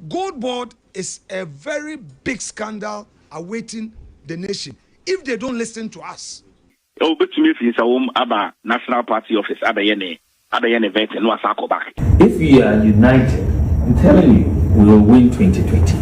Gold board is a very big scandal awaiting the nation if they don't listen to us. Obetumi afi nsawom aba National party office abɛyɛ ne abɛyɛ ne vetting na wasan akɔ back. If we are united I'm telling you we will win 2028.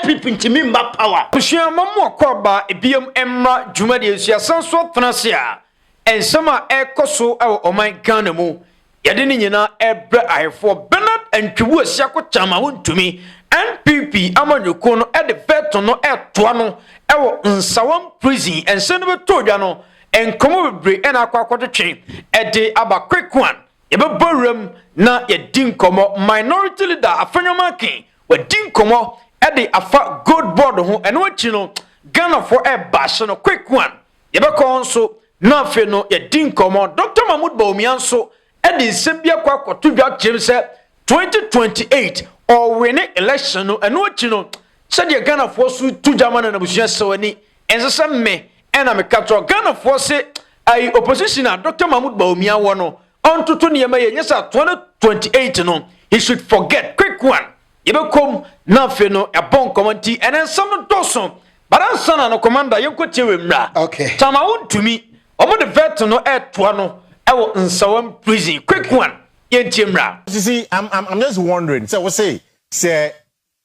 NPP ntumi mma power. Abusua ma mo akɔ aba biom mmra dwumadie nso yasan so atena ase a nsɛm a ɛrekɔ so wɔ ɔman Ghana mu Yɛde ne nyinaa rebrɛ Ayefoɔ Bernard Antwibu Asiako Kyama Wontumi, NPP amanyɔkuo no de veto no retoa no wɔ Nsawam Prison. Nsɛm no bɛtɔɔ dwa no, nkɔmmɔ bebree na akɔ akɔtwetwe de aba Kwekuan. Yɛbɛbɔ wuram na yɛadi nkɔmmɔ. Minority Leader Afenyo Markin, wadi nkɔmmɔ de afa Gold Board ho. Ɛno akyi no, Ghanafoɔ rebashe no Kwekuan. Yɛbɛkɔ hɔ nso na afei no yɛadi nkɔmmɔ. Dɔkta Mahmoud Bawumia nso de nsɛm bi akɔ akɔto dwa kyerɛ mu sɛ 2028 ɔwene election no. Ɛno akyi no, sɛdeɛ Ghanafoɔ so to dwa ma no n'abusua sɛ ani ɛnsɛ sɛ me ɛna meka kyerɛ Ghanafoɔ se ayi opposition a Dɔkta Mahmoud Bawumia wɔ no ɔntoto nneɛma yɛ nyɛ sɛ 2028 no he should forget quick one. Yɛbɛkɔm na afei no yɛabɔ nkɔmmɔ nti ɛnɛ nsɛm no dɔɔso bara nsa na no commander yɛnkɔtie wɔ mmira okay. tama wo ntumi wɔn de vet no ɛtoa no ɛwɔ nsawam prison quick okay. one yɛntie mmira. Sisi I'm, I'm, I'm just wondering sɛ wo se sɛ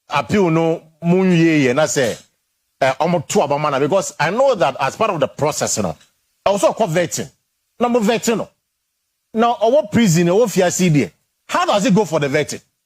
appeal no mu nwie yɛ na sɛ wɔn eh, to aba ma na because I know that as part of the process you know, ɛwɔ sɛ ɔkɔ vetting na mo vetting no na ɔwɔ prison ɔwɔ fiase deɛ how does it go for the vetting.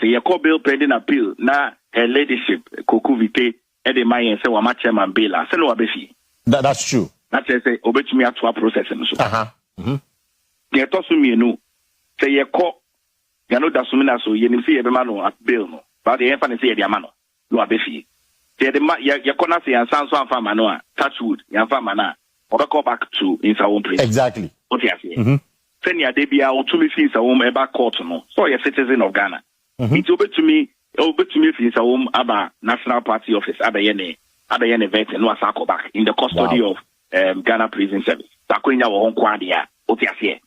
Sɛ yɛkɔ Bill Pending Appeal na Her Ladyship Koku Vite de ma yɛn sɛ wama Chairman bail a, sɛnea waba fie. That that's true. Na kyerɛ sɛ obetumi atoa process no so. Aha. Mhm. Nea ɛtɔ so mmienu, sɛ yɛkɔ Yano Dasumina so, yɛnim sɛ yɛbɛma no bail no, but yɛmfa no sɛ yɛde ama no. na waba fie. Sɛ yɛde ma yɛ yɛkɔ na sɛ yɛansan nso amfa amma no a, touch wood, yɛamfa amma no a, ɔbɛkɔ back to nsawom prison. Exactly. Wote aseɛ? Mhm. Sɛnea da biara wotumi fi nsawom ba court no, sɛ ɔyɛ citizen of Ghana Mhm. nti wobɛtumi wobɛtumi afi nsawom aba National Party Office abɛyɛ ne abɛyɛ ne vetting na wasan akɔ back in the custody Wow. of um, Ghana Prison Service. Sɛ akwannya wɔ hɔ nko ara deɛ a, wote aseɛ?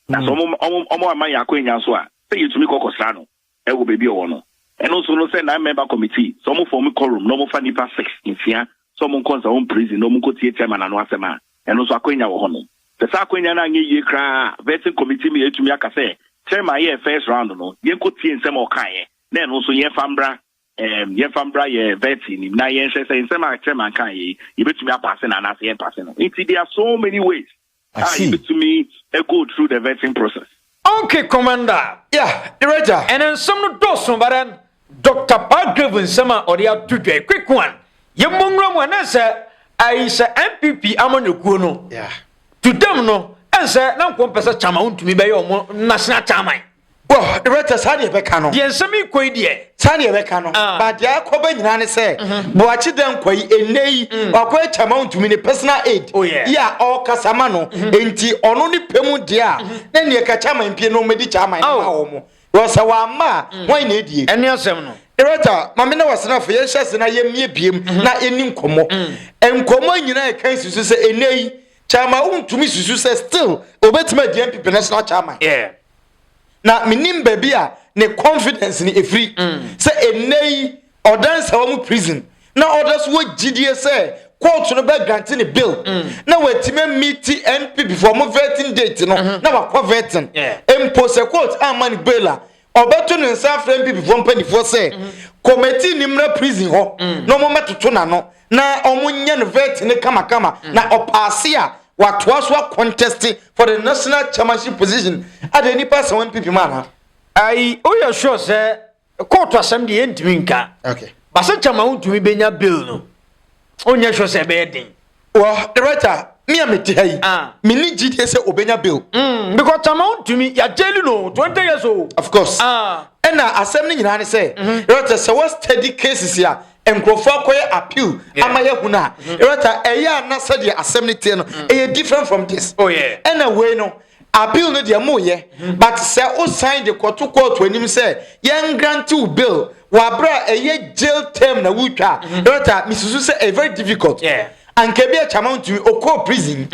Na sɛ Mm. wɔn wɔn wɔn amma yɛn akwannya nso a, sɛ yɛtumi kɔ kɔsra no. wɔ baabi a ɔwɔ no. Ɛno nso no sɛ nine member committee sɛ ɔmo form quorum na ɔmo fa nnipa six, nsia, sɛ ɔmo nkɔ nsaho mprison na ɔmo nkɔ tie chairman ano asɛm a, ɛno nso akwanya wɔ hɔ nom. Sɛ saa akwanya no anyɛ yie koraa a, vetting committee me atumi aka sɛ chairman yɛɛ first round no, yɛnkɔ tie nsɛm a ɔkaeɛ na ɛno nso yɛnfa mmra. Ɛɛm, yɛmfa mbra yɛn vɛɛse yi nim na yɛnhwɛ sɛ nsɛm a Chairman kãe yi, yɛbɛtumi apaase no anaasɛ yɛmpase no. Nti there are so many ways a yɛbɛtumi ago through the vetting process. Onke Commander. Yeah, Iragya. Ɛnɛ nsɛm no dɔɔso but then Doctor Palgrave nsɛm a ɔde ato dwa yi, quick one, yɛmmɔ nwura mu anaasɛ ɛyi sɛ NPP amanyɔkuo no, to them no, ɛnsɛ na nka wɔmpɛ sɛ Chairman wontumi bɛyɛ wɔn National Chairman. Bɔ rɛtɛ saa deɛ ɛbɛka no. Deɛ nsɛm yi kɔ yi deɛ. Saa deɛ ɛbɛka no. Ah. Ba deɛ akɔ bɛ nyinaa ne sɛ. Mhm. Boakye dɛ nkwa yi ɛnɛ yi. Mm. Wakɔ atwa ma ntumi ne personal aid. Oh, yeah. Yi a ɔkasa ma no. Mhm. Enti ɔno ne pɛ mu deɛ a. Mhm. Na neɛ ka kyɛ aman pie no ɔmɛdi kyɛ aman oh. ma wɔn. Wɔ sɛ wɔn ama a. Mm. Wɔn na ɛdie. Ɛne asɛm no. Director, maame na wasenafo yɛn hyɛ ase na yɛn mie biem mhm. na ɛni nkɔmɔ. Mm. Nkɔmɔ nyinaa ɛka nsusu sɛ ɛnɛ yi kyama wontumi susu sɛ still obetumi adi npp national chairman. Yeah. na menim baabi a ne confidence no ɛfiri mm. sɛ ɛnnɛ yi ɔda nsawa mu prison na ɔda so wɔ gyidie sɛ kóòtù no bɛ grante ne bill mm. na wɔatumi amiti npp fo ɔmo vetting date no mm-hmm. na wakɔ vetting mpo sɛ kóòtù ama ne bail a ɔbɛto ne nsa afrɛ npp fo mpanimfoɔ sɛ kɔmɛti mm-hmm. ne mmra prison hɔ mm. na ɔmo mmɛtoto n'ano na ɔmo nyɛ no vɛt ne kamakama mm. na ɔpaase a watoa so akɔntɛste for the national chairmanship position adeɛ nipa asɛm wɔn pipi mu ana. ayi o yɛ sure sɛ kóòtù asɛm deɛ yɛntumi nka basɛ kyɛma wontumi bɛnya bill no onyɛ sure sɛ ɛbɛyɛ den. wɔ director mi a mete ha yi ah. menni gyidie sɛ ɔbɛnya bill mm, because tama wontumi yɛagyeli no 20 years o of course ah. ɛna asɛm no nyinaa ne sɛ director mhm. sɛ wɔ steady cases a nkurɔfoɔ akɔyɛ appeal ama yɛahu no a ɛrɛta mm-hmm. ɛyɛ a na sɛdeɛ asɛm no teɛ no mm-hmm. ɛyɛ different from this oh, ɛna wei no appeal no deɛ moyɛ mm-hmm. but sɛ wosan de kɔto kɔɔto anim sɛ yɛngrante wo bill wɔaberɛ a ɛyɛ jail term na wotwa a ɛrɛta mesusu sɛ ɛyɛ very difficult Anka ebi a Chama ntumi, okɔɔ prison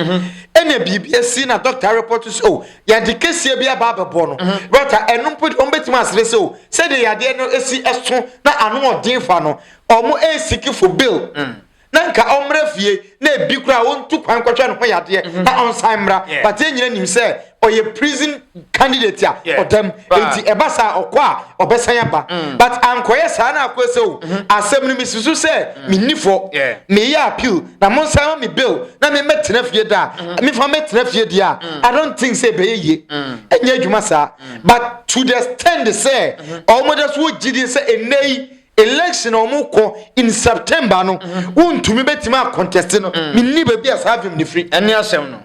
ɛna biribi asi na doctor areport sɛ oh yɛde keseɛ bi aba abɛbɔ no but a ɛno mpo deɛ wɔn bɛtumi asrɛ sɛ oh sɛdeɛ yadeɛ no esi ɛso na ano ɔden fa no wɔn ɛresiki for bail na nka ɔmmra fie na ebi koraa ɔntu kwan nkɔhwɛ ne ho yadeɛ na ɔnsan mmra but yɛn nyina nim sɛ ɔyɛ prison candidate a ɔdam nti ɛba saa ɔkɔ a ɔbɛsan aba mm. but ankɔyɛ saa na akɔ sɛ o mhm. asɛm no mesi so sɛ mm. menni fɔ meyɛ appeal na monsan ma me bill na memmɛtena fie da mhm. mefa mɛtena fie deɛ a mm. i don't think sɛ ɛbɛyɛ yie ɛnyɛ adwuma saa but to the stand sɛ mhm. ɔmɔda so wɔ gyidie sɛ ɛnnɛ yi election a wɔn kɔ in september no mhm. wɔntumi bɛtumi akɔntɛste no menni baabi a saa vim ne firi ɛne asɛm no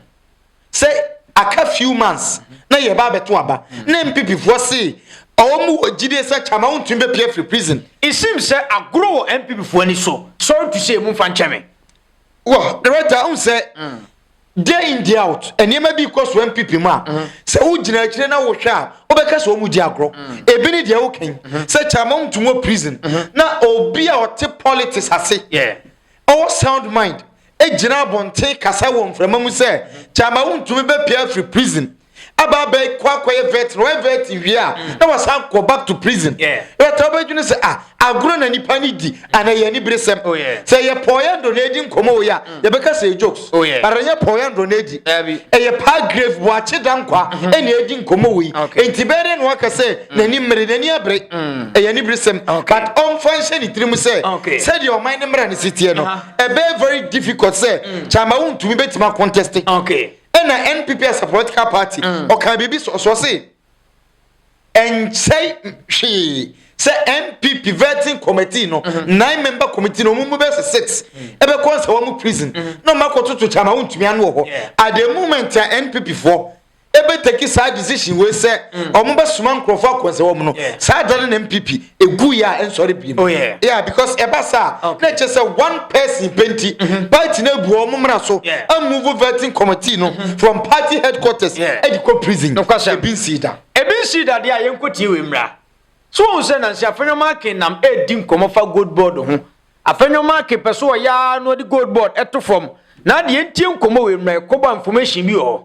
sɛ aka few months na yɛba abɛto aba na NPPfoɔ se wɔn mu wɔ gyidie sɛ Kyama wontumi bɛpue afiri prison. It seems sɛ agorɔ wɔ NPPfoɔ ani so, sorry to say momfa nkyɛ me. Wɔ director wohu sɛ day in day out nneɛma bi kɔ so NPP mu a sɛ wogyina akyire na wohwɛ a wobɛka sɛ wɔn gye agorɔ. Ebi ne deɛ woka yi sɛ Kyama wontumi wɔ prison na obi a ɔte politics ase ɔwɔ sound mind gyina abɔnten kasa wɔ mframa mu sɛ kyama wontumi bɛpia afiri prison aba abɛyɛ kɔ akɔyɛ vet na ɔyɛ vet wie a mm. na wasan kɔ back to prison ɛta wobɛdwene sɛ a ah, agorɔ na nipa ne di ana yɛ aniberesɛm oh, sɛ yɛpɔɔyɛ ndɔ na ɛdi nkɔmmɔ wei a mm. yɛbɛka sɛ jokes Oh, yeah. But ɛnyɛ Paul Yandro na edi. Dabi. Ɛyɛ Pa Grave Boakye Dankwa ɛna edi nkɔmɔ wei. Okay. Nti bɛyɛ dɛ na waka sɛ n'ani mmere, n'ani abere. Ɛyɛ aniberesɛm. Okay. But ɔmfa nhyɛ ne tirim sɛ Okay. sɛdeɛ ɔman ne mmara no si teɛ no, Aha. ɛbɛyɛ very difficult sɛ Kyama wontumi bɛtumi akontɛste. Okay. Ɛna NPP as a political party, ɔkaa biribi sɔsɔ se, ɛnkyɛ hwee sɛ npp vetting committee no mhm. nine member committee no ɔmo mu bɛ sɛ six mhm. ɛbɛkɔ nsɛ wɔn prison mhm. na ɔmo akɔtoto kyama wɔn ntumi ano wɔ hɔ at the moment a npp foɔ ɛbɛtaki saa decision wei sɛ ɔmo bɛsoma nkurɔfoɔ akɔnsɛ wɔn no saa da no na npp egu yɛ a nsɔre bi mu. Oh, yeah. yeah because ɛba saa okay. na ɛkyɛ sɛ one person penti mm-hmm. party na ebu ɔmo mmara so yeah. amuvu vetting committee no mm-hmm. from party headquarters yeah. ɛde kɔ prison ebi nsi da. ebi nsi da deɛ a yɛn nko tie wɔ mmira so wɔn sɛ nansi afɛnyɔma akin nam edi nkɔmɔ fa gold board ho afɛnyɔma akin pɛ so ɔyaa na ɔde gold board ɛto fam na adeɛ ntie nkɔmɔ wɔ mmira ɛkɔbɔ information bi wɔ hɔ.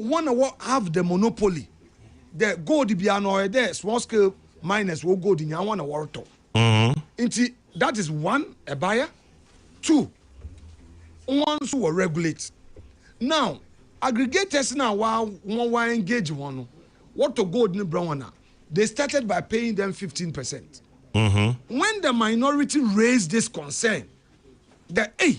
Hɔn na wɔ have the monopoly dɛ gold biara no ɔyɛ dɛ small scale miners wɔ gold nyinaa hɔn na wɔrotɔ ntsi that is one ɛbaeɛ two hɔn so wɔ regulate now aggregators no a wa hɔn wa engage hɔn no wɔtɔ gold no brɛ hɔn a they started by paying them fifteen percent when the minority raised this concern dɛ ei.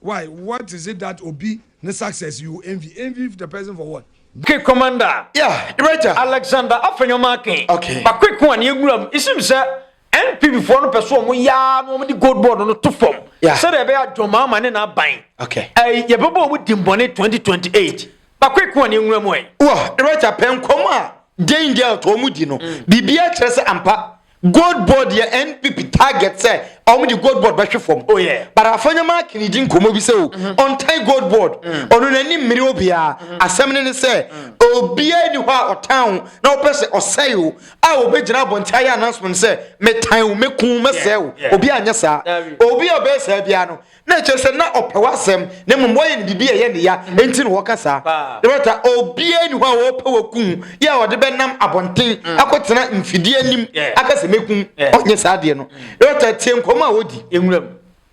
Why what is it that obi ne success you envy envy the person for what. Quick Commander yeah, Raja. Alexander Afenyo Akin okay. ba Quick ho a ne yɛnwura mu. It seems sɛ NPP foɔ no pɛ so wɔn yaa na wɔn de gold board no to fam. Yeah. Sɛdeɛ ɛbɛyɛ a John Mahama ne n'aban. Okay. Ɛɛ yɛbɛbɔ wɔn dimbɔne 2028. Ba Quick ho a ne yɛnwura mu ɛ. Wɔ Raja pɛ nkɔm a Jane Girl to wɔn di no. Mm. Biribiara kyerɛ sɛ ampa. Gold board yɛ NPP target sɛ ɔmo de gold board bɛhwe fam. Oh yeah. But Afanyama Akin ne di nkɔmɔ bi sɛ o, mm-hmm. ɔntan gold board. Mm. Ɔno n'ani mmiri obiara. Mm-hmm. Asɛm ne ne sɛ, mm. obiara ni hɔ a ɔtan wo na ɔpɛ sɛ ɔsɛe wo a obɛgyina abɔnten ayɛ announcement sɛ, metan wo, meku wo, mɛsɛe wo. Obiara nyɛ saa. Obi a ɔbɛyɛ saa biara no, Na ɛkyerɛ sɛ na ɔpɛ w'asɛm, na mmom wɔyɛ no biribi a ɛyɛ ne ya nti na wɔka saa. Na bɛta obiara nni hɔ a wɔpɛ wakum yɛ a ɔde bɛnam abɔnten mm. akɔtena mfidie anim aka sɛ mɛkum ɔnyɛ saa adeɛ no. Na bɛta tie nkɔmmɔ a wɔdi nwura mu.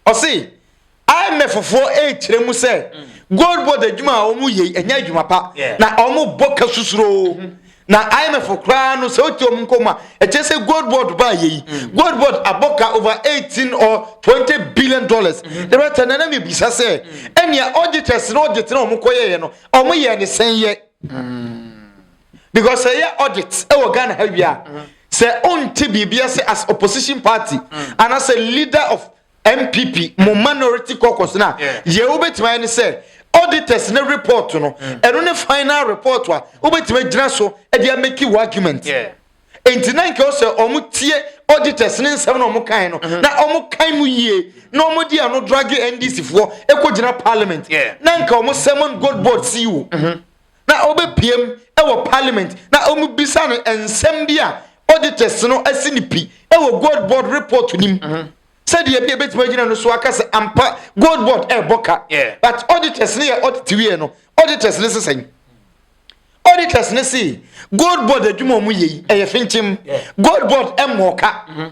Ɔse IMFfoɔ ɛrekyerɛ mu sɛ mm. gold board adwuma a wɔyɛ ɛnyɛ adwuma pa na wɔbɔ ka susuroo. Mm-hmm. na imf koraa no sɛ wote ɔm nkɔm a ɛkyɛ sɛ gold board baa yɛyi mm. gold board abɔ ka over 18 or 20 billion dollars mm-hmm. the right na na mebisa sɛ mm. ɛnea auditors no audit na ɔmo kɔyɛeɛ no ɔmo yɛ ne sɛn yɛ mm. because ɛyɛ audit ɛwɔ ghana ha wie a mm-hmm. sɛ ɔnte biribia sɛ as opposition party anaasɛ leader of npp mo minority caucus no a yɛ wobɛtumi ayɛ ne sɛ auditors ne report no mm. ɛno ne final report a wobɛtumi agyina so de ameki wo argument nti na nka sɛ wɔn tie auditors ne nsɛm na wɔn kan no mm-hmm. na wɔn kan mu yie na wɔn di ano dragi ndc foɔ ɛkɔ gyina parliament na nka wɔn sɛmon gold board ceo. Mm-hmm. na ɔbɛpiam wɔ parliament na wɔbisa no nsɛm bi a auditors no asi no pi wɔ gold board report no mu mhm. sɛdeɛ bi a ɛbɛtumi agyina no so aka sɛ ampa gold board ɛrebɔ ka but auditors no yɛ audit wieɛ no auditors no sesɛn auditors no se gold board adwuma ɔmo yɛ yi ɛyɛ finkyim gold board mmɔɔ ka mhm.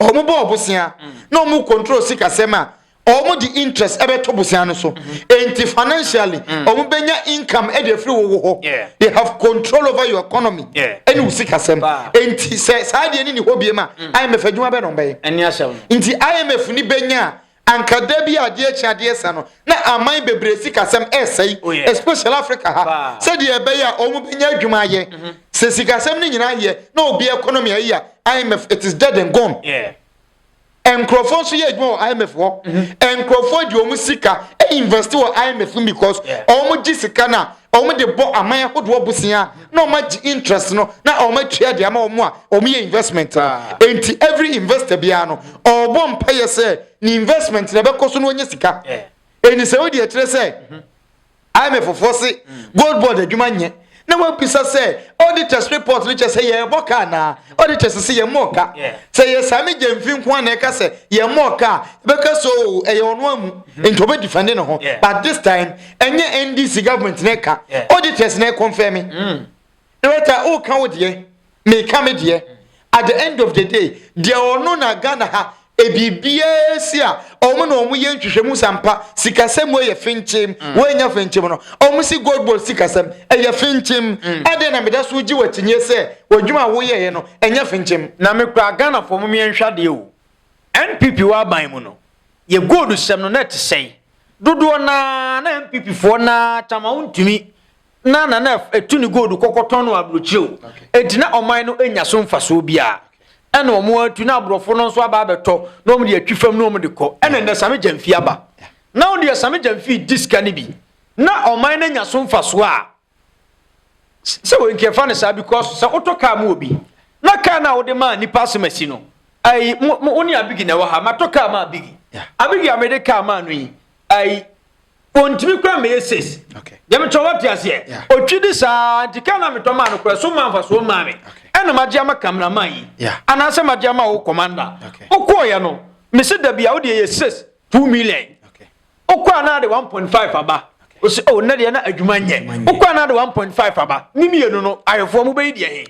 wɔn bɔɔ bosea na wɔn control sikasɛm a wɔn de interest ɛbɛto bosea no so nti financially wɔn bɛnya income ɛde afiri wo wo hɔ they have control over your economy ɛne wo sikasɛm nti sɛ saa deɛ ne ne hɔ bie ma IMF adwuma bɛ na wɔn bɛyɛ nti IMF ni bɛnya a Anka da bi a adeɛ akyi adeɛ sa no na aman bebree sikasɛm ɛsɛe Oh yeah. especially Africa ha Paa. sɛdeɛ ɛbɛyɛ a wɔn bɛnya adwuma ayɛ. Sɛ sikasɛm no nyinaa yɛ na obi economy ayi a, IMF it is dead and gone. Yeah. Nkurɔfoɔ nso yɛ adwuma wɔ IMF hɔ. Nkurɔfoɔ de wɔn sika invest wɔ IMF mu because Yeah. wɔn gye sika no a wɔn de bɔ aman ahodoɔ bosea na wɔn agye interest no na wɔn atua de ama wɔn a wɔn yɛ investment no ah. nti every investor biara no ɔrebɔ mpayɛ sɛ ne investment na ɛbɛkɔ so na wɔnyɛ sika ɛni sɛ wodi ɛkyerɛ sɛ mhm. imf fofoɔ se mm. gold board adwuma nyɛ na wɔabisa sɛ auditors report no kyɛ sɛ yɛrebɔ ka anaa auditors sɛ yɛmmɔɔ ka sɛ yɛ saa megya mfi nko a na ɛka sɛ yɛmmɔɔ ka a ɛbɛka so ɛyɛ ɔno amu mhm. nti ɔbɛdifɛnde ne ho but this time ɛnyɛ ndc government na ɛka auditors na ɛkɔnfɛ me mm. director ɔka wo deɛ meka me deɛ mm. at the end of the day deɛ ɔno na ghana ha ebibiara si a wɔn na wɔn yɛ nhwehwɛmu sampa sikasɛm wɔ yɛ finkyim mm. wɔn nya finkyim no wɔn si gold ball sikasɛm ɛyɛ finkyim ɛdeɛ na meda so gye wɔ akyinyɛ sɛ wɔdwuma a wɔyɛ yɛ no ɛnyɛ finkyim. na mekura ghana fɔ mu yɛn nhwadeɛ o. NPP wɔ aban mu no, yɛ gold sɛm no na ɛte sɛn? Dodoɔ no ara na NPP foɔ no ara tam a wontumi na na na ɛtu ne gold kɔkɔtɔn no aburokyire o. Enti na ɔman no nnya so mfasoɔ biara. Ɛna wɔn atu na aborɔfo no nso aba abɛtɔ na wɔn de atwi fam na wɔn de kɔ. Ɛna nnɛ Same Gyamfi aba. Na wɔn deɛ Same Gyamfi di sika no bi. Na ɔman no anya so mfasoɔ a. Sɛ wei nka ɛfa no saa bi kɔ so sɛ wotɔ kaa ma obi na kaa no a wode maa nipa asomasi no ayi mo mo ne abigi na ɛwɔ ha matɔ kaa ma abigi abigi a mede kaa maa no yi ayi ontumi kura mɛyɛ ses deɛ metɔ wate aseɛ otwi de saa nti kaa no a metɔ maa no kura so maa nfa so maa me ɛna magye ama kameraman yi anaasɛ magye ama wo kɔmanda wokɔɔyɛ no mese dabi a wode ɛyɛ ses two million Wokɔ a na ade one point five aba. Ose oh nnɛ deɛ na adwuma nyɛ. Wokɔ a na ade one point five aba. Ne mmienu no ayefoɔ mo bɛyi deɛ he?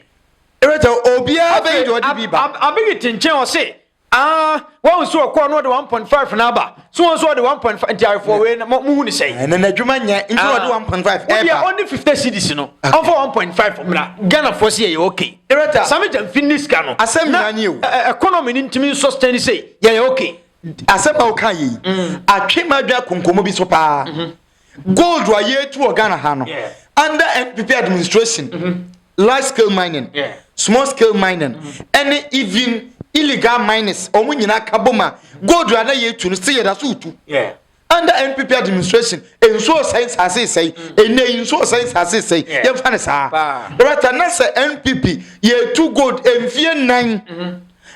Ereta obiara bɛyi deɛ ɔde bi ba. Afei Abi Abi te nkyɛn ɔse aa wahu sɛ ɔkɔ a na ɔde one point five na aba so wɔn nso ɔde one point five nti ayefoɔ wei mo hu ne sɛn. Ɛnɛ n'adwuma nyɛ nti na ɔde one point five ɛba. Wodeɛ ɔne fifty cedis no ɔmfa one point five mmra Ghanafoɔ se yɛyɛ ok. Ereta. Same Gyamfi nni sika no. Asɛm nyinaa nie o. Na economy no ntumi nsustain sei yɛyɛ ok. Asɛm a woka yei atwe m'adwene akɔ nkɔmmɔ bi so paa. Gold a yɛtu wɔ Ghana ha no, under NPP administration, large scale mining, small scale mining, ɛne even illegal miners, wɔn nyinaa ka bom a, gold a na yɛtu no, sɛ yɛda so tu. under npp administration nsuo sɛe nsase sɛe ɛnɛ yi nsuo sɛe nsase sɛe yɛmfa no saa rata na sɛ npp yɛtu gold mfie nnan mm-hmm.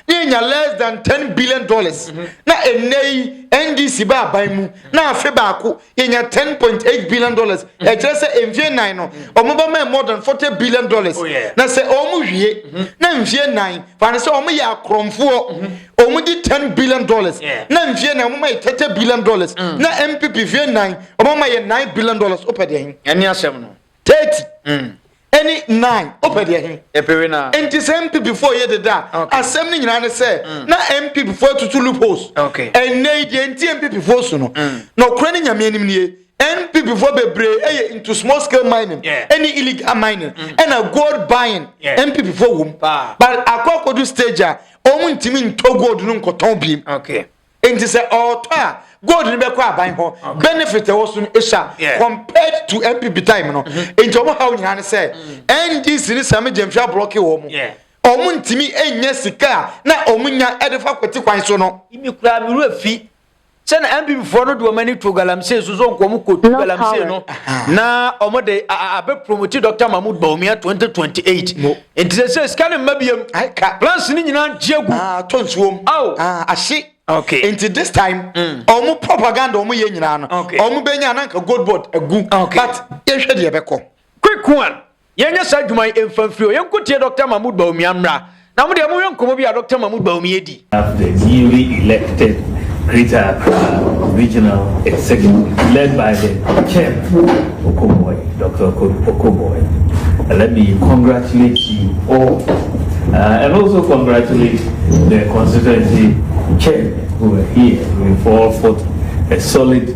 na yɛnya less than ten billion dollars mm-hmm. na ɛnɛ yi ndc ba aban mu na afe baako yɛnya ten point eight billion dollars mm-hmm. ɛkyerɛ sɛ mfie nnan no wɔn ba mɛ more than forty billion dollars oh, na sɛ wɔn wie na mfie nnan fa no sɛ wɔn yɛ akorɔmfoɔ. wɔn di ten billion dollars na nfie na wɔn ma yɛ thirty billion dollars mm. na npp fie nan wɔn ma yɛ nine billion dollars o pɛ deɛ hin. ɛni asɛm no. thirty. Mm. ɛni nine o pɛ deɛ hin. epewe na. nti sɛ npp fo yɛ deda asɛm ni nyinaa ni sɛ mm. na npp fo tutu loopholes. ɛnɛ yi deɛ nti npp fo so no na okura ni nyamea nim nie npp fo bebree ɛyɛ into small scale mining ɛni illegal mining ɛna gold buying npp fo wom but akɔ akɔdu stage a. Wɔn ntumi ntɔ gold no nkɔtɔn bi. Okay. Nti sɛ ɔtɔ a gold no bɛkɔ aban hɔ benefit ɛwɔ so no ɛhyɛ compared to NPP time no mm-hmm. nti ɔmo haw nyinaa ne sɛ mm. NDC ne Sami Gyamfi ablɔke wɔ mo ɔmo ntumi nyɛ sika a na ɔmo nya ɛde fa kwati kwan so no. Ibi kura mi wura fi Sɛ na NPP foɔ no de wɔn ani to galamsey so sɛ nka wɔn kɔtu galamsey no na wɔn de abɛ promote Dr. Mahmoud Bawumia 2028 nti sɛ sɛ sika no mma biam plans no nyinaa gye agu ato nsuom ahye nti this time wɔn propaganda wɔn yɛ nyinaa no wɔn bɛnya na nka gold board agu but yɛhwɛ deɛ ɛbɛkɔ quick one Yɛnyɛ saa adwuma yi mfa mfiri hɔ. Yɛnkɔtie Dɔkta Mahmoud Bawumia mmra. Na mo deɛ monhwɛ nkɔmmɔ bi a Dɔkta Mahmoud Bawumia di. The newly elected Greater Accra Regional Executive led by the Chairman Okoboy, Doctor Okoboy, let me congratulate you all uh, and also congratulate the constituency chairman who are here. We fall for a solid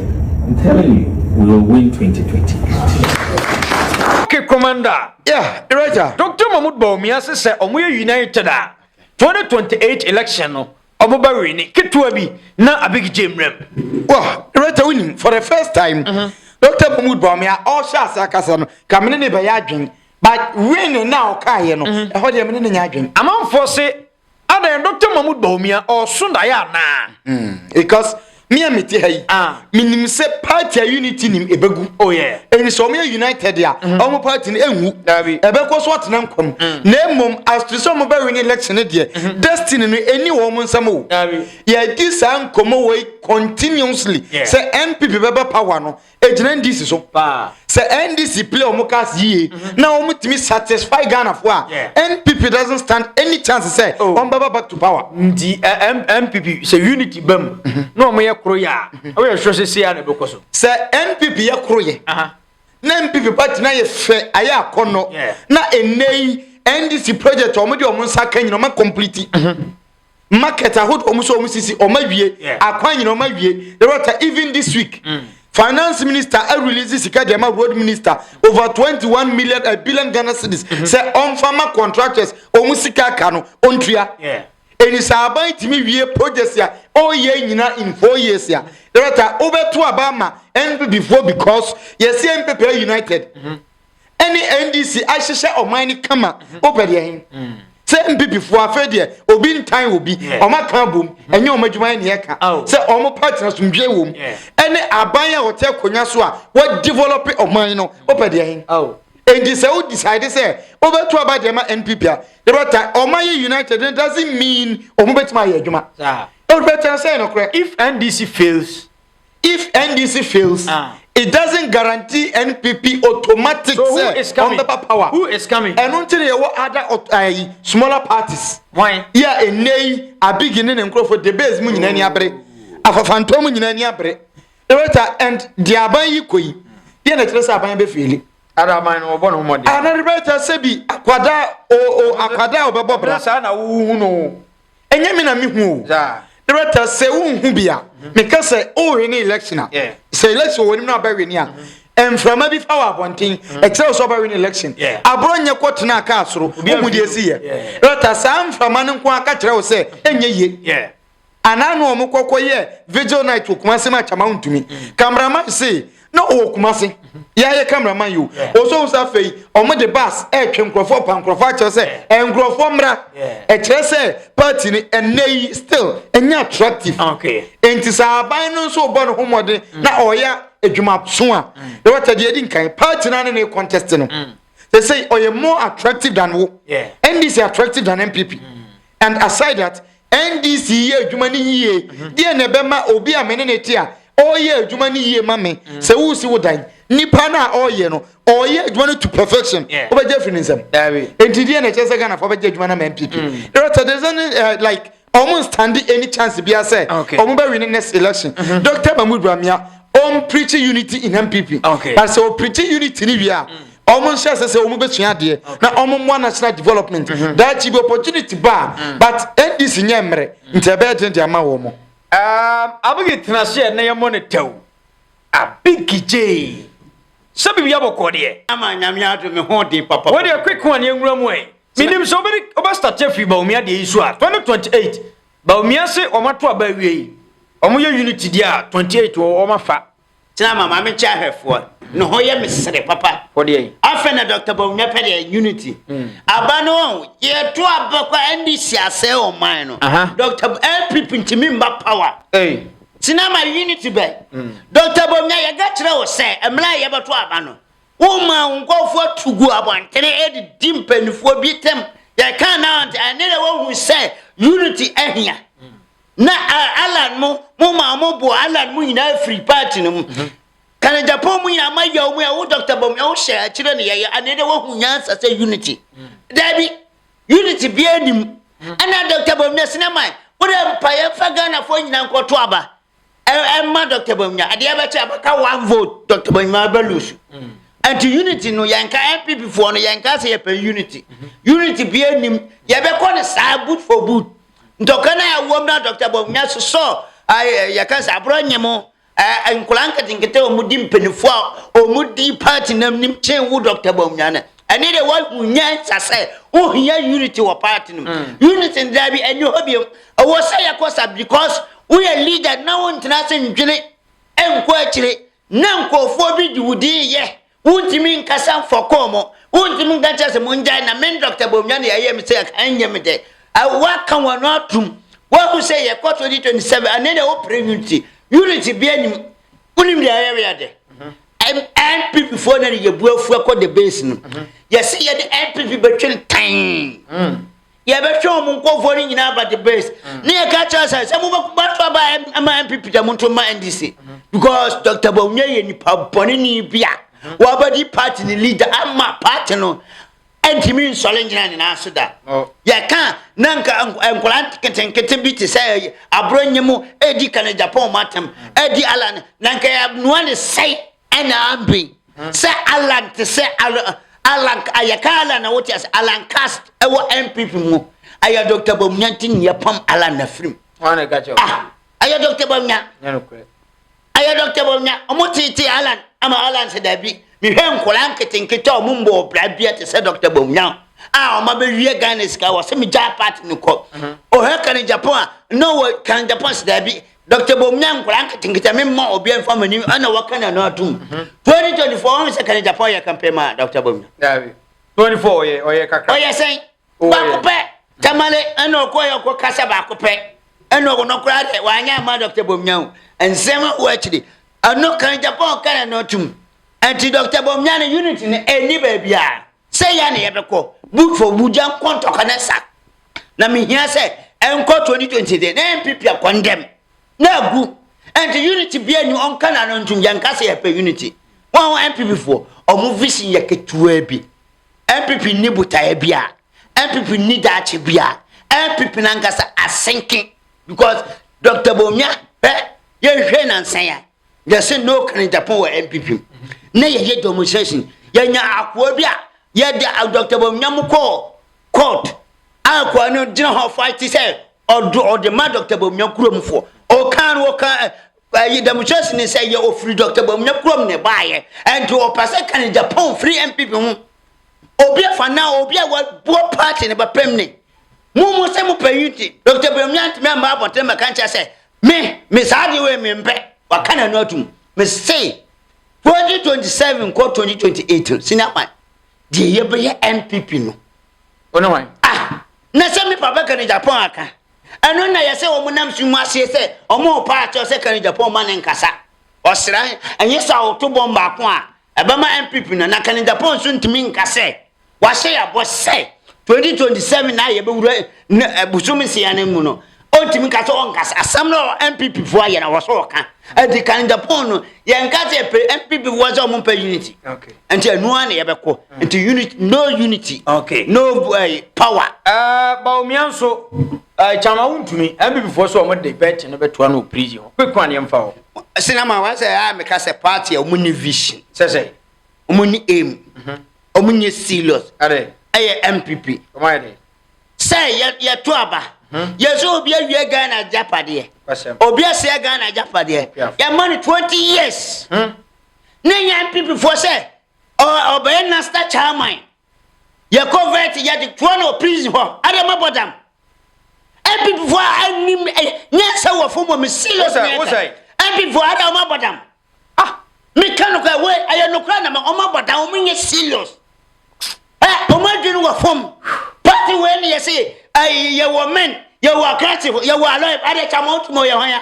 I'm telling you, we will win 2020. Okay, Commander. Yeah, Roger. Dr. Mahmoud Bawumia says that we are united. 2028 election, no. Omoba wini. Kitua bi na abig jemrem. Well, Roger winning for the first time. Mm-hmm. Dr. Mahmoud Bawumia all shots akasa no. Kamene ne bayadwen. But winning now kaya no. Ehodi amene ne nyadwen. Amanfo se Adɛn Doctor Mahmoud Bawumia ɔɔso daeɛ anaa? Hmm, because me a mete ha yi ah. menim sɛ party a unity nim ɛbɛgu oh, yeah. ɛni sɛ ɔmoyɛ united a mm. ɔmo party no ɛnwu ɛbɛkɔ so atena nkɔm mm. na mmom astre sɛ ɔmo bɛwene election no deɛ mm-hmm. destiny no ɛni wɔ ɔmo nsɛm o yɛdi saa nkɔmmɔ wei continuously sɛ npp bɛba power no egyina ndc so sɛ ndc play wɔn cars yie mhm. na wɔn tumi satisfy ghana fo a npp doesn't stand any chance sɛ oh. wɔn bɛba back to power. nti npp sɛ unity bɛ mu mhm. na wɔn yɛ koro yɛ a mhm. wɔyɛ sɔ sɛ seya na ɛbɛ kɔ so. sɛ npp yɛ koro yɛ na npp party na yɛ fɛ ayɛ akɔnɔ na ɛnɛ yi ndc project wɔn de wɔn nsa ka nyina wɔn complete. market ahodoɔ ɔmo sɛ ɔmo sisi ɔmo awie akwan nyina ɔmo awie the rota even this week mm. finance minister arelease sika deɛ ma road minister over twenty one million a eh, billion ghana cedis mm-hmm. sɛ ɔmfa ma contractors ɔmo sika aka no ɔntua ɛni sɛ aban tumi wie projects a ɔyɛ nyina in four years a the rota wobɛto aba ma npp foɔ because yɛsɛ npp united mm -hmm. ɛne ndc ahyehyɛ ɔman no kama wopɛ deɛ he sɛ mpipifoɔ afei deɛ obi ntan obi ɔmo aka abom ɛnyɛ ɔmo adwuma ne ɛka sɛ ɔmo pa tena somdwe wom ɛne aban a ɔte akonnwa so a wɔdevelop ɔman no wopɛ deɛ he enti sɛ wo decide sɛ wobɛto aba deɛ ma npp a yɛbɛta ɔma yɛ united it doesn't mean ɔmo bɛtumi ayɛ adwuma wobɛtena sɛ nokorɛ if ndc fails If NDC fails, ah. it doesn't guarantee NPP automatic so who is coming? on paper power. Who is coming? And until you what other uh, smaller parties. Why? Yeah, a nay, a beginning and growth for the base moon in any abre. A for phantom in any abre. And the abayi koi. Yeah, the Teresa Abayan be feeling. ara man no wɔbɔ ne ho mɔden. ana rebɛta sɛ bi akwada o o akwada a wɔbɛbɔ bra. saa na wohu no. ɛnyɛ me na mehu o director sɛ wonhu bi a meka sɛ wohwe ne election a sɛ election wɔ nim no abɛwe ne a mframa bi fa wɔ abɔnten ɛkyerɛ sɛ ɔbɛwe ne election aborɔ nyɛ kɔtena kaa soro wohu deɛ si yɛ director saa mframa no nko aka kyerɛ wo sɛ ɛnyɛ yie anaa na wɔn kɔkɔ yɛ vigil night wɔ kuma se ma kyama wontumi kameraman se na ɔwɔ kumase yɛayɛ cameraman yi o ɔsɔhu sɛ afei ɔmo de bas ɛretwe nkurɔfoɔ pa nkurɔfoɔ akyerɛ sɛ nkurɔfoɔ mmra ɛkyerɛ sɛ party no ɛnɛ yi still ɛnyɛ attractive nti sɛ aban no nso bɔ ne ho mmɔden na ɔyɛ adwumaso a na wɔtɛ deɛ ɛdi nkan party no ne ne contest no they say ɔyɛ more attractive than wo ndc attractive than npp and aside that NDC yɛ adwuma no yie deɛ na ɛbɛma obi a me ne ne te a ɔreyɛ adwuma no yie ma me mm. sɛ wosi wo dan nipa no a ɔreyɛ no ɔreyɛ adwuma no to perfection wobɛgye afiri ne nsɛm enti deɛ na ɛkyerɛ sɛ ghanafoɔ bɛgye adwuma no ma mpp rɛtɛdesɛ ne eh, like ɔmo nstande any chance bia sɛ ɔmo bɛwi ne next election mm-hmm. dr mahmud ramia ɔmpreachi unity in mpp but sɛ ɔpreachi unity no wie a mm. wɔn nhyɛ sɛ sɛ wɔn bɛsua adeɛ na wɔn mmoa national development mhm. daakyi bi opportunity ba mm. but ndc nyɛ mmerɛ nti ɛbɛyɛ den de ama wɔn. Um, abegi tena se ɛnɛ yɛ mɔ ne tɛw abegi gyee sɛ biribi abɔkɔ deɛ. ama nyame adum mi ho den papa. wọ́n deɛ quick one yɛn nwura mu ɛ minim sɛ wobɛdi wobɛ start afiri baomia deɛ yi so a twenty twenty eight baomia se wɔn ato aba awie yi wɔn yɛ unity deɛ a twenty eight wɔn afa. Tena ma Maame Nkyɛ Ahwɛfoɔ no ho yɛ me sere papa. Afei na Dɔkta Bawumia pɛ deɛ unity. Mm. Aba no wɔn yɛto aba kɔ NDC asɛe wɔn man no. Dɔkta NPP ntumi mba power. Tena ma unity bɛn. Mm. Dɔkta Bawumia yɛka kyerɛ wo sɛ mmerɛ a yɛbɛto aba no woma wo nkɔfoɔ to gu abɔntene ɛde di mpanimfoɔ bi tɛm yɛka na ɛne dɛ wɔhu sɛ unity ahia. na alan mo mo ma ɔmo bo alan mo nyinaa firi paati no mu mhm. kana japan mu nyinaa ma yɛ ɔmo yɛ wo dɔkta bɔm ɛwo hyɛ akyerɛ ne yɛyɛ anee dɛ woahu nyansa sɛ unity mm. daabi unity bia anim mm. ɛna dɔkta bɔm na sinɛ man wode mpaeɛ fa ghanafoɔ nyinaa nkɔto aba ɛ ɛma Dɔkta Bawumia adeɛ bɛkyɛ ɛbɛka one vote Dɔkta Bawumia bɛ lusu nti unity no yɛnka NPP foɔ no yɛnka sɛ yɛpɛ unity unity bia nim yɛbɛkɔ no saa boot for boot ntɔka no a ɛwɔ mu na Dɔkta Bawumia sosɔ yɛka sɛ aborɔ nye mo nkwadaa nketenkete a wɔdi mpanimfoɔ a wɔdi party no anim kyen wo Dɔkta Bawumia no ɛne de wonya nsa sɛ wohia unity wɔ party no mm. unity no daa bi ɛnyɛ hɔ biom ɛwɔ sɛ yɛkɔ sa because woyɛ leader na wontena se ndwene nkɔ akyire na nkurɔfoɔ bi de wo din yɛ wontumi nkasa mfɔkɔɔ mo wontumi nka kyɛ sɛ mongyae na men dr bomnya ne ɛyɛ me sɛ ɛnyɛ me dɛ woaka wɔn atom woahu sɛ yɛkɔ 2027 ɛne deɛ wopere unity unity bia nim wonim deɛ ɛyɛ weyɛ dɛ npp foɔ na ne yɛbu afu akɔ the base no mhm. yɛse yɛde npp bɛtwe ntan mm. yɛbɛtwe wɔn nkɔfoɔ no nyinaa ba the base mm. ne yɛka kyerɛ sɛ sɛ mobɛto aba ma npp dɛ monto ma ndc mhm. because dr bawunya yɛ nipa bɔne ni bi a mhm. wɔabɛdi party ne leader ama party no ntumi nsɔre ngyina ne nan so da yɛka na nka nkwadaa nketenkete bi te sɛ aborɔ nyɛ mu ɛredi ka ne japan mu atam ɛredi alan na nka yɛanoa ne sɛe ɛna amben sɛ alan te sɛ alan yɛka alan na wote ase alan cast ɛwɔ npp mu ɛyɛ dr bamnya nti ne yɛpam alan na firim ɛyɛ dr bamnya Ɛyɛ Dɔkta Bawumia, wɔteetee Allan ama Allan sɛ daabi. Mehwɛ nkwadaa nketenkete a wɔmmɔɔ bra bia te sɛ Dɔkta Bawumia a wɔabɛwia Ghana sika, wɔse megyaa party no kɔ. Ɔhwɛ Kane Japan a, na wɔ Kane Japan sɛ daabi. Dɔkta Bawumia nkwadaa nketenkete a memma obiara mfa m'anim ɛna wɔka no ano atom. 2024 wɔn sɛ Kane Japan yɛ campaign ma Dɔkta Bawumia. Daabi. 24 ɔyɛ ɔyɛ kakra. Ɔyɛ sɛn? baako pɛ tamale ɛna ɔkɔ yɛ ɔkɔ kasa baako pɛ ɛna ɔkɔ no koraa dɛ wanyɛ ama dɔkta bomnya o nsɛm wɔ akyiri ɛno kan japan kan no tum ɛnti dɔkta bomnya no unit no ɛni baabi a sɛ yɛ na yɛbɛkɔ boot for bugya nkɔ ntɔka ne sa na mehia sɛ ɛnkɔ 2020 de na ɛmpipia kɔndɛm na agu ɛnti unit bia ni ɔnka na no ntum yɛnka sɛ yɛpɛ unit wɔn npp foɔ ɔmo vision yɛ ketewa bi NPP nni botaeɛ biaa, NPP nni daakye biaa, NPP nankasa asenke because Doctor Bawumia hwɛ yɛnhwɛ nansa ya yɛse no kanejapon wɔ NPP na yɛyɛ demonstration yɛnya akoa bi a yɛde Doctor Bawumia mu kɔɔ court a akoa no gyina hɔ fight sɛ ɔde ma Doctor Bawumia kurom foɔ ɔkaa no ɔkaa Ɛyi dɛmkyerɛ sene sɛ yɛ ɔfiri Dɔkta Bawumia kurom ne baayɛ ɛnti ɔpɛ sɛ ka ne Japan firi MPP ho obi afa na obi a wabuo party ne bɛpem ne mo mo sɛ mo pɛ unity Dɔkta Bawumia ntumi amma abɔnten mɛka nkyɛ sɛ me me saa deɛ wei me mpɛ waka n'ano atum me se 2027 kɔ 2028 sini akwan deɛ yɛbɛyɛ MPP no Wo ne wan? Ah! Na sɛ me papa Kanu Japan aka. Ɛno na yɛsɛ wɔn nam so mu aseɛ sɛ wɔn repaa akyɛw sɛ Kanu Japan ma ne nkasa. Ɔsran, ɛnyɛ sɛ awoto bɔm baako a ɛbɛma NPP no na Kanu Japan nso ntumi nka sɛ wahyɛ yɛabɔ sɛ 2027 no a yɛbɛwura ne bosom nsia no mu no Ɔntumi nka sɛ ɔnkasa. Asɛm no a NPP foɔ ayɛ na wɔ sɛ ɔka. Ɛdi kan Japan no, yɛnka sɛ yɛpɛ NPP foɔ sɛ ɔmo mpɛ unity. Nti ɛno ara na yɛbɛkɔ. Nti unity, no unity, no uh, power. Uh, Bawumia nso, uh, eh, kyama wontumi. NPP foɔ sɛ ɔmo de bɛɛte no bɛtoa no wɔ prison hɔ. Quick one yɛmfa hɔ. Sinama wɔn sɛ a ah, meka sɛ party a ɔmo ni vision. Sɛ sɛ. Ɔmo ni aim. Ɔmo mhm. nyɛ serious. Ɛyɛ NPP. Ɔmo ayɛ dɛ. Sɛ yɛ yɛto aba. Hmm. Yɛ sɛ obi awie Ghana agyapadeɛ. Obi asɛ Ghana agyapadeɛ. Yɛma no twenty years. Hmm. Ne yɛ NPP foɔ sɛ ɔbɛyɛ national chairman. Yɛ convert yɛ de toɔ no prison hɔ. Adama bɔdam. NPP foɔ anim nyɛ sɛ wɔfo mɔ me serious. NPP foɔ Adama bɔdam. Ah, me ka no kwa, wei, ɛyɛ no kwa na ma ɔma bɔda, ɔmo nyɛ serious. Eh, ɔmo adwene wɔ fam. Party wei ne yɛse, eh, yɛwɔ men, yɛwɔ akrasefo, yɛwɔ alɔyɛ, adeɛ kyɛ ɔmo ɔmo yɛ hwan a?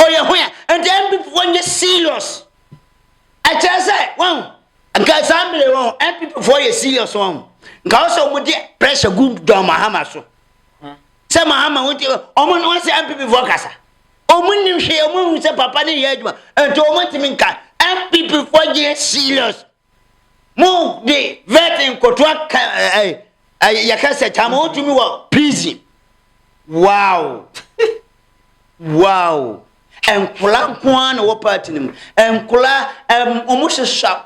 Ɔyɛ hwan a? Nti MPP fo nyɛ serious. Ɛkyerɛ sɛ, wɔn, nka saa mmiri wɔn, MPP fo yɛ serious wɔn. Nka ɔsɛ ɔmo de pressure gu John Mahama so. Sɛ Mahama, wɔn ti, ɔmo, wɔn sɛ MPP fo kasa. Wɔnnim hwee, wɔnhu sɛ papa no reyɛ adwuma, nti wɔntumi nka. NPP foɔ nyɛ serious. Mo de vetting nkotoa ka ɛɛ ɛɛ yɛka sɛ kyama wɔntumi wɔ prison. Wow. Wow. Nkora nko ara na wɔ party no mu. Nkora ɛm wɔn hyehyɛ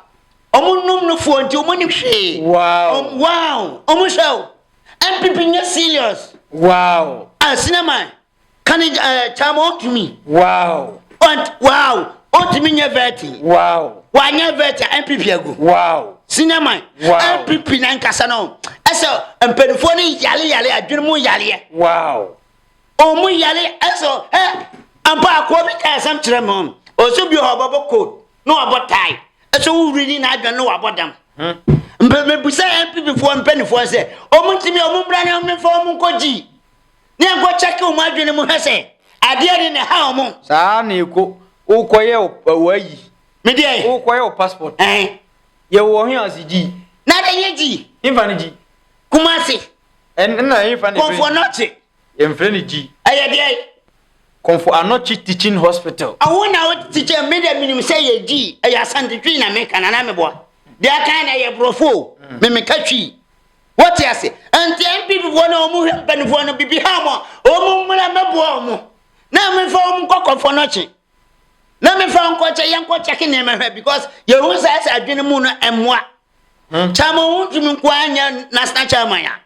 wɔn nom no foɔ nti wɔn nim hwee. Wow. Wɔn wow. Wɔn hyɛ o. NPP nyɛ serious. Wow. Asinaman. Can it uh, eh, time on to me? Wow. But wow. On to me vetting. Wow. Why never vetting? MPP ago. Wow. Cinema. Wow. MPP na nkasa no. Ɛsɛ mpanyinfoɔ ne yale yale adwene mu yaleɛ. Wow. Ɔmo yale ɛsɛ ɛ ampa akoɔ bi kaa ɛsɛm kyerɛ mu. Ɔsɛ bi ɔbɔ bɔ coat na wabɔ tie. Ɛsɛ wowuri ni na adwene na wabɔ dam. Hmm. Mpanyinfoɔ mpanyinfoɔ sɛ ɔmo ntumi ɔmo mbra ne ɔmo nfa ɔmo nkɔ gyi. Ne yɛn kɔ kyɛke wɔn adwene mu hwɛ sɛ adeɛ de na ɛha wɔn. Saa na ɛkɔ wokɔ yɛ wɔ ayi. Me deɛ. Wokɔ yɛ wɔ passport. Ɛn. Yɛ wɔ hin ase gyi. Na de yɛ gyi. Hinfa ne gyi. Kumasi. Ɛn na hinfa ne fɛ. Kɔnfo anɔkye. Yɛn fɛ ne gyi. Ɛyɛ deɛ. Kɔnfo anɔkye teaching hospital. Awo na wo teacher me deɛ minim sɛ yɛ gyi. Ɛyɛ asante twi na me ka na na me boa. Deɛ akan na ɛyɛ borɔfo o. Me me ka twi. Wote ase? Enti NPP foɔ no a wɔn hwɛ mpanimfoɔ no bibi ha wɔn a, wɔn mmra mmɛboa wɔn. Na mefa wɔn nkɔ kɔfɔ no kye. Na mefa nkɔ kyɛ yɛn kɔ kyɛke nneɛma hwɛ because yɛhu saa sɛ adwene mu no mmoa. Hmm. Kyama wɔn ntumi nko ara nyɛ national chairman a.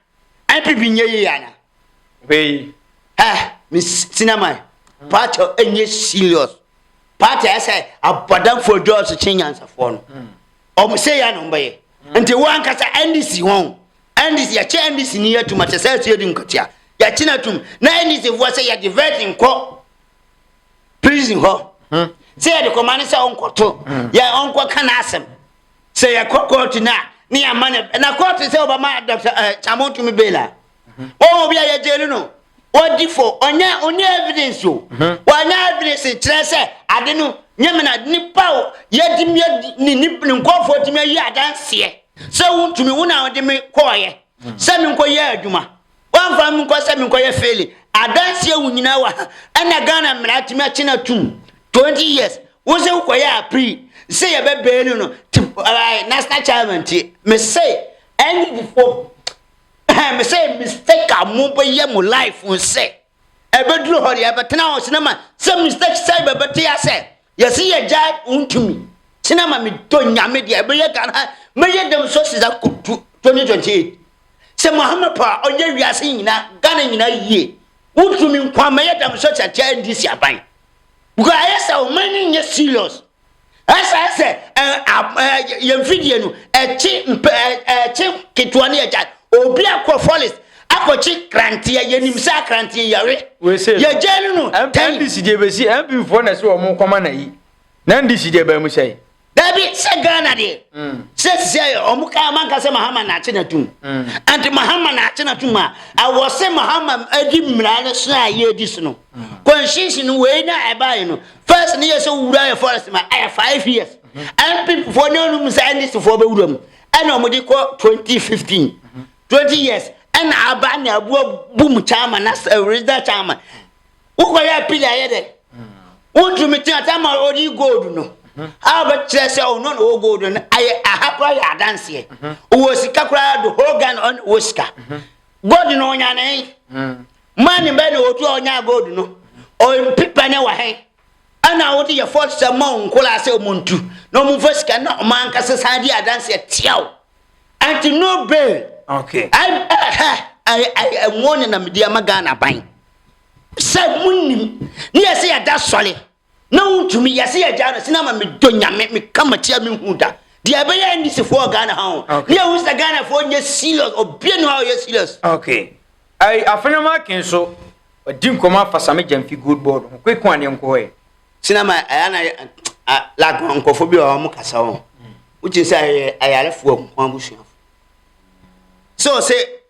NPP nyɛ yie ana? Wei. Ɛ me sinama party ɛnyɛ serious. Party ɛsɛ abɔdanfoɔ dɔɔso kye nyansafoɔ no. Hmm. ɔmo sɛ yɛ na ɔmo bɛyɛ nti wo ankasa ndc wɔn ndc yɛkyɛ ndc ni yɛ tum akyɛ sɛ ɛsɛ yɛ di nkatia yɛkye na tum na ndc foɔ sɛ yɛde virgin kɔ prison hɔ hmm. sɛ yɛde kɔma ne sɛ ɔnkɔto hmm. yɛ ɔnkɔ ka n'asɛm sɛ yɛkɔ kɔɔto no a ne yɛama no na kɔɔto sɛ ɔbɛma dɔkta eh, kyamo tumi bela Wɔn mu bi a yɛgyee no no, ɔdi fɔ, ɔnyɛ, ɔnyɛ evidence o, wɔanyɛ evidence nkyerɛ sɛ ade no nyɛ me na nipa o, yɛtumi yɛ ne ne nkɔfoɔ tumi ayi adanseɛ sɛ wontumi wo na ɔde me kɔɔyɛ sɛ me nkɔ yɛ adwuma wɔamfa me nkɔ sɛ me nkɔ yɛ fele adanseɛ wo nyinaa wɔ ha ɛna Ghana mmara tumi akye na tum 20 years wo sɛ wokɔyɛ apiri sɛ yɛbɛbɛɛ no no national chairman tie me sɛ ɛne before Ɛhɛn me sɛ mistake a mo bɛ yɛ mo life ho sɛ ɛbɛ duru hɔ deɛ ɛbɛ tena hɔ sinama sɛ mistake sɛ bɛ bɛ te asɛ yɛsi yɛ gya ntumi sinama me dɔ nyame deɛ ɛbɛ yɛ Ghana ha mɛ yɛ dɛm so sisa ko tu 2028 sɛ Muhammad pa ɔyɛ wiase nyina Ghana nyina yie wotumi nkwa mɛ yɛ dɛm so sɛ kyɛ ndisi aban because ayɛ sɛ ɔman ni nyɛ serious Ɛsɛ sɛ yɛn mfidie no ɛkye mpɛ ɛkye ketewa ne ɛgya obi akɔ fɔlis akɔkye kranteɛ yɛnim sɛ akranteɛ yare yɛgya no no tɛn. ndc deɛ bɛsi mp foɔ na ɛsɛ wɔn kɔma na yi na ndc deɛ baa mu sɛe. Dabi sɛ Ghana deɛ mm. sɛ sisɛ ɔmo ka ɔmo anka sɛ Mahama na akye n'atum mm. anti Mahama na akye n'atum a awɔ sɛ Mahama adi mmira no so a yɛ edi so no mm. kɔnhyinsi no wei na ɛbaeɛ no first ne yɛ sɛ wura yɛ forest ma ɛyɛ five years npp foɔ ne ɔnum sɛ ndc foɔ bɛwura mu ɛna wɔn de kɔ twenty fifteen twenty years ɛna aba ne aboa boom chairman na eh, regional chairman wokɔ yɛ apili ayɛ dɛ wotumi tena sɛ ma ɔde gold no a bɛkyerɛ sɛ ɔno na ɔwɔ gold no ayɛ aha koraa yɛ adanseɛ ɔwɔ sika koraa do whole ghana ɔn wɔ sika gold no ɔnya ne Man bɛn na otu a ɔnyaa gold no? Ɔmpi pɛ ne wɔ he? Ɛna a wote yɛ fɔs sɛ mma wo nkoraa sɛ ɔmo ntu na ɔmo mfa sika na ɔmo ankasa san di adanse atia wo. Ante no bail. Okay. Ai ɛhɛ ai ai ɛnwo ne na medi ama Ghana ban sɛ mo nim ne yɛ sɛ yɛda sɔre na wontumi yɛ sɛ yɛgyaa no sɛ na ma medɔ nyame meka matia menhu da deɛ ɛbɛyɛ ndisifoɔ wɔ ghana ha ho ne ɛhu sɛ ghanafoɔ nyɛ serious obia ne hɔ a ɔyɛ serious okay ɛyi afenam aken so ɔdi nkɔmɔ afa same gyamfi gold board ho kweko aneɛ nkɔ hɔ ɛ sena ma ɛyɛ na like nkɔfo bi wɔ wɔn kasa wɔn wogye sɛ ɛyɛ ayarefoɔ nko abusuafo sɛ ɔsɛ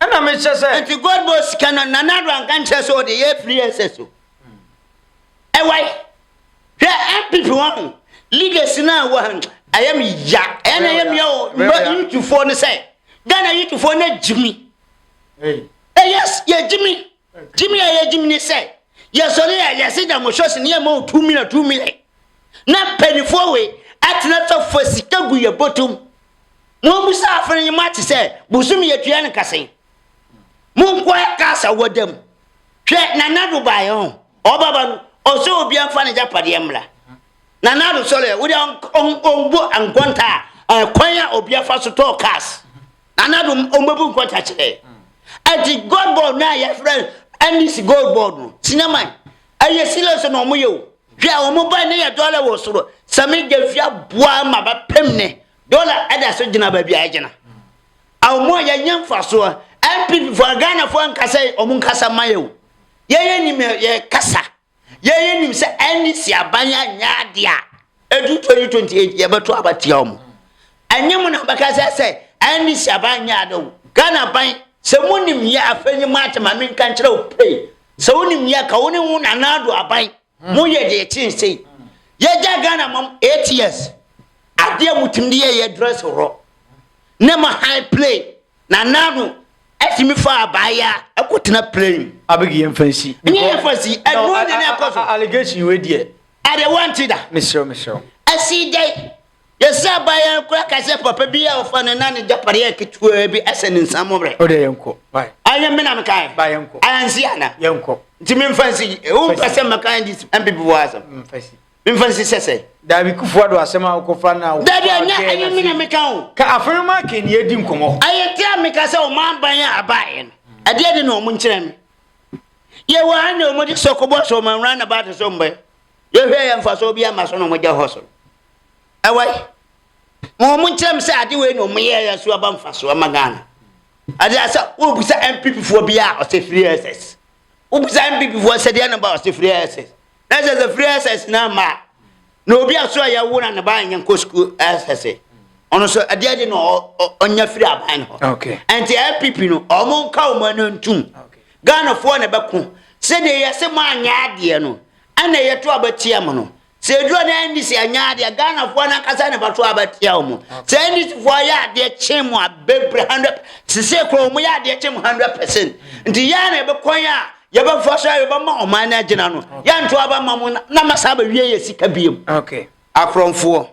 Ɛna me kyɛ sɛ. Nti gold board sika no nana ado anka nkyerɛ sɛ ɔde yɛ free access o ɛwai hwɛ npp wɔn leaders no a wɔ ha ɛyɛ me ya ɛna ɛyɛ me ya o mba yutufoɔ no sɛ ghana yutufoɔ na gyimi yes yɛ gyimi Gyimi a yɛgyim ne sɛ yɛsɔre a yɛse da mo shɔs ne yɛ ma wo two million two million na mpanifoɔ wei atena fa fa sika gu yɛ botom mo amu sɛ afere yi mo ate sɛ bosom yɛtua no kasen mo nkoa kasa wɔdam hwɛ nanado baayɛ ho ɔbaba no ɔsɛ obi amfa ne gyapadeɛ mmra nanado sɔre wode ɔmbo ankɔnta a kwan a obi afa so tɔɔ cars Nana Adom ɔmɛbu nkɔta kyerɛ ɛti gold board no a yɛfrɛ NDC gold board no sinama ɛyɛ serious na ɔmo yɛ o hwɛ a ɔmo ba ne yɛ dɔla wɔ soro sɛme gyafia boa ma bɛpem ne dɔla ɛda so gyina baabi a ɛgyina a ɔmo a yɛnyɛ mfasoɔ NPP foɔ Ghana foɔ nkasa yi ɔmo nkasa ma yɛ o yɛyɛ nim yɛ kasa Yɛn yɛn nim sɛ NDC aban anyɛ ade a edu 2028 yɛbɛto aba tia wɔn. Ɛnyɛ mu na bɛka sɛ sɛ NDC aban nyɛ ade o. Ghana aban sɛ mu nim yɛ afei nye maate ma menka nkyerɛ wo pray. Sɛ wo nim yɛ ka wo ne wo Nana Addo aban mo yɛ deɛ ɛkyɛn sei. Yɛgya Ghana mam 8 years adeɛ mo tumi de yɛ yɛ dress horɔ ne mo high play Na naano ɛtumi fa abaayaa kɔ tena plane mu. Abeg yɛn fa nsi. Nyɛ yɛn fa nsi ɛnu ɔnyɛ ne ɛkɔ so. Allegation wei deɛ. Adeɛ wanti da. Mesrɛw mesrɛw. Ɛsi dɛ yɛsɛ abaayaa kura kasɛ papa bi a ɔfa ne na ne gyapadeɛ ketewa bi ɛsɛ ne nsa mɔbrɛ. O deɛ yɛn kɔ. Bye. Ayɛ mi na mi kan. Bye yɛn kɔ. Ayɛ nsi ana. Yɛn kɔ. Nti mi nfa nsi. Ewu nfa sɛ mɛ kan di npp wɔ asɛm. Nfa nsi. mfa nsi sɛ sɛ. Dabi kufu ado asɛm a wokɔfa na wokɔfa Dabi ɛnyɛ ɛnyɛ mi na meka o. Ka afei ma aka ni edi nkɔmɔ. Ɛyɛ te a meka sɛ wɔn aban a abaeɛ no ɛdeɛ de na wɔn nkyerɛ me. Yɛwɔ ha na wɔn de sɛ kɔbɔ sɛ wɔn awura na baate so mbɛ. Yɛhwɛ yɛ mfasoɔ bi ama so na wɔn gya hɔ so. Ɛwɔ yi. Ma wɔn nkyerɛ me sɛ ade wei na wɔn yɛ yɛ so aba mfasoɔ ama Ghana. Ade asɛ wobisa MPP foɔ bi a ɔsɛ free SS. Wobisa MPP foɔ sɛ deɛ na ba ɔsɛ free SS. na sɛ sɛ firi ɛsɛs na ma na obi aso a yɛwo na ne ba nyɛ nkɔ sukuu ɛsɛse ɔno nso ɛdeɛ de na ɔnya firi aban no hɔ ɛnti npp no ɔmo nka ɔmo ano ntum ghanafoɔ na ɛbɛko sɛdeɛ yɛse mo anyɛ adeɛ no ɛna yɛto abɛtia mo no sɛ ɛduro no ɛndi sɛ anyɛ adeɛ ghanafoɔ no ankasa na ɛbɛto abɛtia ɔmo sɛ ɛndi sifoɔ ayɛ adeɛ kye mo abɛbrɛ 100 sese korɔ ɔmo yɛ adeɛ kye mo 100 percent nti yɛa na ɛbɛkwan a yɛbɛfa so a yɛbɛma ɔman no agyina no yɛnto aba ma mo na masa abɛwie yɛ sika biam okay. akorɔmfoɔ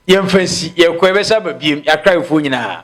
yɛmfa nsi yɛkɔ yɛbɛsa aba biam yɛakraefoɔ nyinaa